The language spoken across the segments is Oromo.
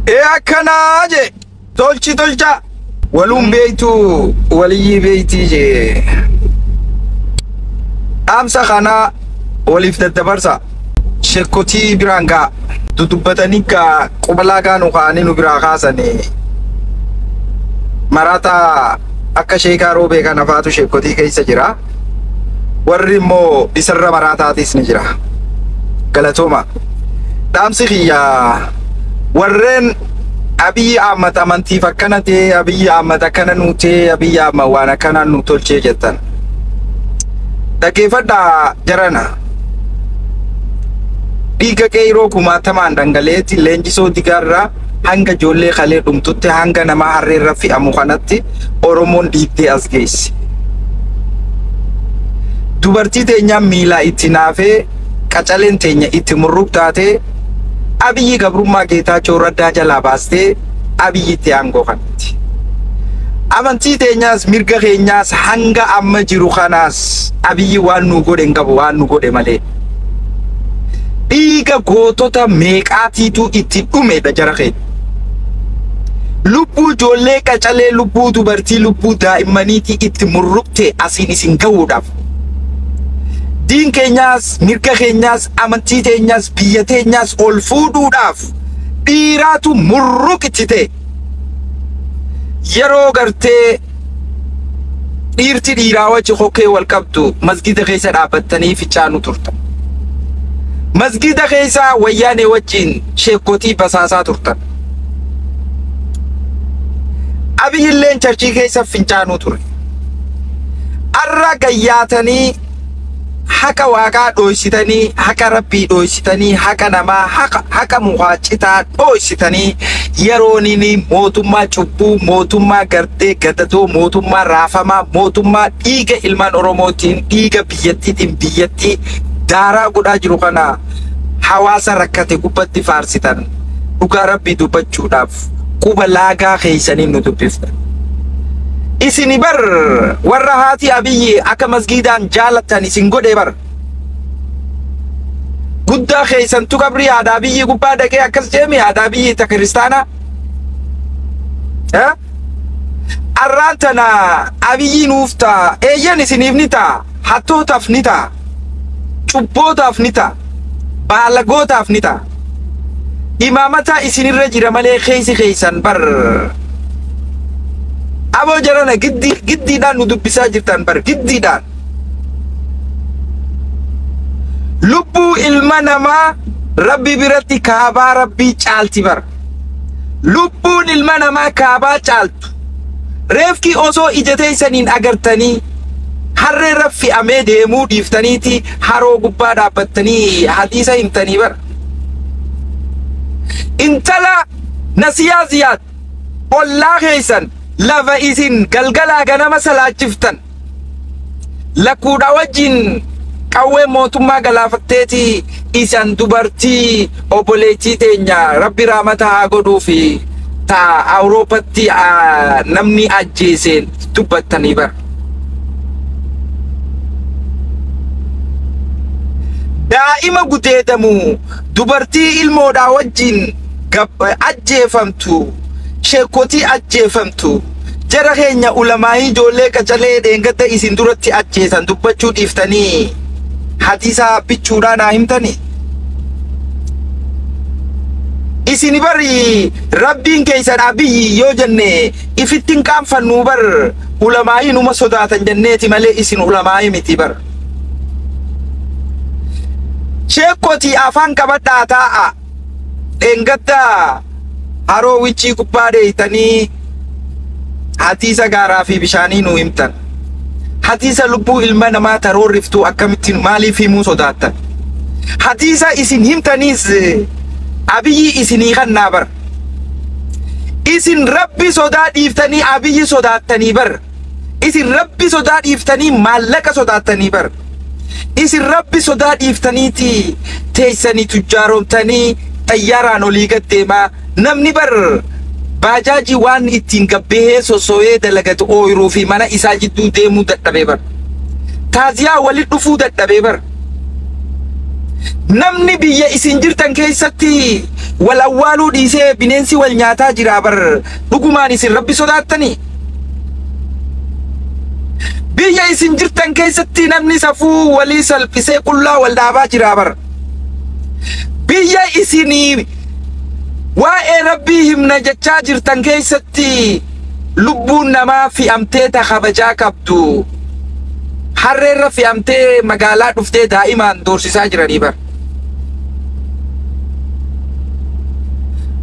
Ee akkanaa jee tolchi tolchaa. Waluun beektu waliyyii beektii jee. Dhaamsa kana waliif daddabarsa. Shekkotii biraan gaa. Dudubbatanii gaa qubalaa gaa nu kaa'anii nu biraa kaasanii. Maraataa akka sheekaa roobee kana faatu shekkotii keessa jira. warri immoo isarra maraataatiis ni jira galatooma dhaamsi kiyya warreen abiyyi ahmad amantiif akkana ta'e abiyyi ahmad akkana nuu ta'e abiyyi ahmad waan akkanaa nu tolchee jettan dhaggeeffadhaa jarana dhiiga qeeyroo kumaatamaan dhangala'eetti leenjisoo digaarraa hanga ijoollee kalee dhumtutti hanga namaa harree irra fe'amu kanatti Oromoon dhiibdee as geesse. Dubartii teenyaan miilaa itti naafee qacaleen teenya itti murruq taatee abiyyi gabrummaa geetaachoo raddaa jalaa baastee abiyyitti aangoo kanatti. Amantii teenyaas mirga keenyaas hanga amma jiru kanaas abiyyi waan nuu godhe hin qabu waan nu godhe malee. Dhiiga gootota meeqaatiitu itti dhumedha jara keenya. Lubbuu ijoollee qacalee, lubbuu dubartii, lubbuu daa'immaniitii itti murruqte asiin isin gahuudhaaf. Diin keenyaas, mirga keenyaas, amantii teenyaas, biyya teenyaas ol fuudhuudhaaf dhiiraatu murruq itti ta'e. yeroo gartee dhiirti dhiiraa wajji kokkee wal qabdu masgida keessa dhaabbattanii fichaanu turtan. Masgida keessa wayyaanee wajjin sheekkotii basaasaa turtan. Abiyyilleen charchii keessa fincaanuu ture. Arra gayyaatanii haqa waaqaa dhooysitanii haqa rabbii dhooysitanii haqa namaa haqa, haqa mukaa citaa dhooysitanii yeroonini mootummaa cubbuu mootummaa gartee gadatoo mootummaa raafamaa mootummaa dhiiga ilmaan oromootiin dhiiga biyyattiitiin biyyattii daaraa godhaa jiru kana hawaasa rakkate gubbatti faarsitan dhugaa rabbii dubbachuudhaaf quba laagaa keessaniin nu dubbifta. Isini bar warra haati abiyyi akka masgiidaan jaalattan isin godhe bar. Guddaa keessantu qabrii haadha abiyyi gubbaa dhaqee akkas jeemi haadha abiyyi ta kiristaanaa. Eh? Arraan tana abiyyi nuuf ta'a eeyyan isiniif ni ta'a hattootaaf ni ta'a. cubbootaaf ni ta'a baalagootaaf ni ta'a imaamataa isinirra jira malee keeysi keeysan bar aboo jarana giddii giddiidhaan nu dubbisaa jirtan bar giddiidhaan lubbuu ilma namaa rabbi biratti kaabaa rabbii caalti bar lubbuun ilma namaa kaabaa caaltu Reefki osoo ija teessaniin agartanii harreerra fe'amee deemuu dhiiftaniiti haroo gubbaa dhaabbattanii hadiisa himtanii bara. Intala nasiyaa ziyaad ollaa keessan lafa isin galgalaa ganama salaachiftan lakkuudhaa wajjin qawwee mootummaa galaafatteeti isan dubartii obboleettii teenya rabbi raamata haa godhuu fi ta awuroopatti namni ajjeeseen dubbattanii bara. Daa'ima gudeedamu dubartii ilmoodhaa wajjin ajjeefamtu sheekotii ajjeefamtu. Jara keenya ulamaa'ii ijoollee qacalee dheengadda isin duratti ajjeesan dubbachuu dhiiftanii hadiisaa bichuudhaan haa himtanii? Isin bari rabbiin keessan abiyyi yoo jenne ifittin qaanfannuu bar ulamaa'ii numa sodaatan jenneeti malee isin ulamaa'ii miti bar. Sheekkotii afaan qabadhaa taa'a. dheengadda haroo wiccii gubbaa dheeytanii hadiisa gaaraa fi bishaanii nu himtan. Hadiisa lubbuu ilma namaa taroorriftuu akkamittiin maaliif himuu sodaattan? Hadiisa isin himtaniis abiyyi isinii kannaa bar. Isin rabbi sodaa dhiiftanii abiyyi sodaattanii bar. Isin rabbi sodaa dhiiftanii maallaqa sodaattanii bar. Isin rabbi sodaa dhiiftaniiti teessanii tujjaaroomtanii xayyaaraan olii gad deemaa namni bar baajaajii waan ittiin gabbehee sossooyee dalagatu ooyiruu fi mana isaa jidduu deemuu dadhabee bar. Taaziyaa wali dhufuu dadhabee bar. Namni biyya isin jirtan keessatti wal awwaaluu dhiisee bineensi wal nyaataa jiraa bar. Dhugumaan isin Rabbi sodaattanii? Biyya isin jirtan keessatti namni safuu walii salphisee qullaa wal dhaabaa jiraa bar. Biyya isinii waa'ee Rabbii himna jechaa jirtan keessatti lubbuun namaa fi'amtee ta kabajaa qabdu harreerra fi'amtee magaalaa dhuftee daa'imaan doorsisaa jiranii bar.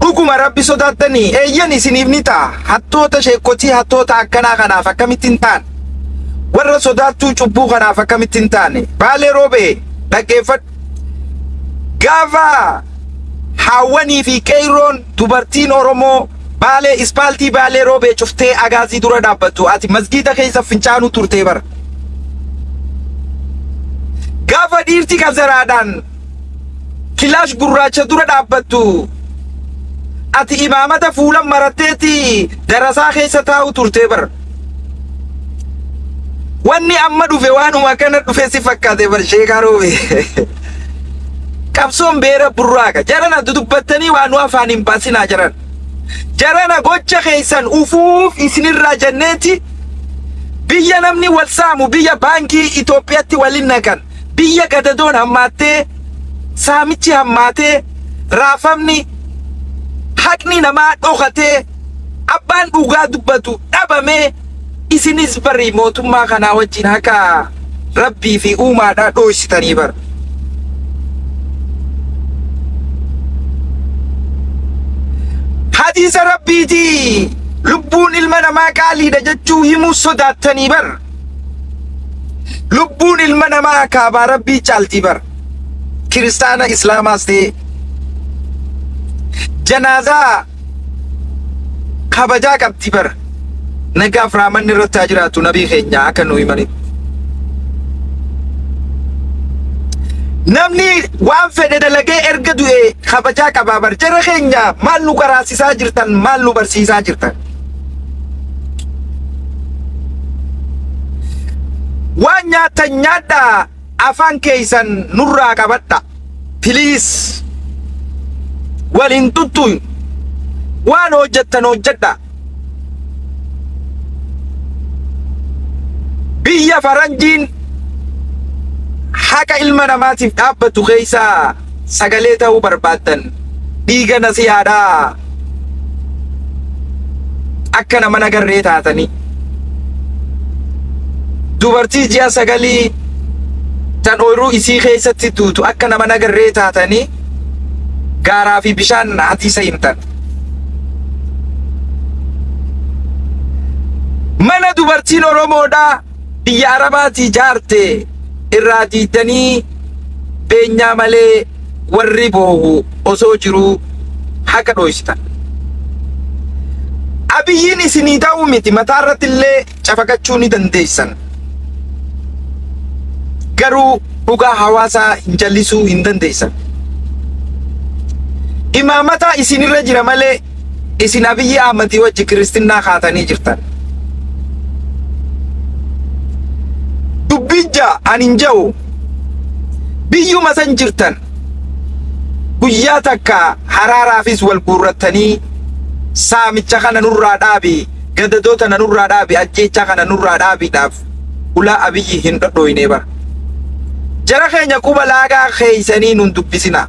dhuguma rabbi sodaattanii eeyyan isiniif ni ta'a hattoota sheekkotii hattoota akkanaa kanaaf akkamitti hin taane warra sodaattuu cubbuu kanaaf akkamitti hin taane baalee roobee dhaggeeffadhu gaafa haawwanii fi qeeyroon Dubartiin Oromoo Baalee ispaaltii Baalee Roobee cuftee agaazii dura dhaabbattu ati masgiida keessa fincaanuu turtee bara. Gaafa dhiirti kazaraadhaan kilaash gurraacha dura dhaabbattu ati imaamata fuulan maratteeti darasaa keessa taa'u turtee bara. Wanni amma dhufe waanuma akkana dhufe si fakkaate bar sheekaa roobe. Qabsoon beera burraaqa. Jarana dudubbattanii waan nu afaan hin baasinaa jaran. Jarana gocha keessan ufuuf isinirraa jenneeti biyya namni wal saamu biyya baankii Itoophiyaatti waliin naqan. biyya gadadoon hammaattee, saamichi hammaatee, raafamni, haqni namaa dhokatee, abbaan dhugaa dubbatu dhabamee, isinis bari mootummaa kanaa wajjin haqa Rabbii fi uumaadhaa dhooysitanii bar. Hadiisa Rabbiitii lubbuun ilma namaa qaaliidha jechuu himuu sodaattanii bar. Lubbuun ilma namaa akaabaa rabbii caaltii bara. Kiristaana Islaamaas ta'ee janaazaa kabajaa qabdi bara. Nagaaf raamanni irratti haa jiraatu nabii keenya akka nu himanitti. Namni waan fedhe dalagee erga du'e kabajaa qabaa bar. Jara keenya maal nu qaraasisaa jirtan maal nu barsiisaa jirtan. waan nyaattan nyaadhaa afaan keessan nurraa qabadha piliis waliin tuttuun waan hojjettan hojjedha biyya faranjiin haqa ilma namaatiif dhaabbatu keessaa sagalee ta'uu barbaaddan dhiiga nasihaadhaa akka nama nagarree taatanii dubartii ji'a sagalii tan ooyiruu isii keessatti duutu akka nama nagarree taatanii gaaraa fi bishaan hadiisa himtan. Mana dubartiin Oromoodhaa biyya arabaatii jaarte irraa diiddanii beenyaa malee warri boohu osoo jiruu haqa dhooysitan. Abiyyiin isinii ta'uu miti mataa irratti illee cafaqachuu ni dandeessan. Garuu dhugaa hawaasaa hin jallisuu hin dandeessan. Imaamataa isinirra jira malee Isin Abiyyi Ahmadii wajji kiristinnaa kaatanii jirtan. Dubbiin ja'a ani hin ja'u. Biyyuma san jirtan guyyaa takka haraaraafis wal guurrattanii saamicha kana nurraa dhaabi gadadoo tana nurraa dhaabi ajjeechaa kana nurraa dhaabiidhaaf ulaa abiyyi hin dhodhooyne bara. Jara keenya quba laagaa keeysanii nun dubbisina.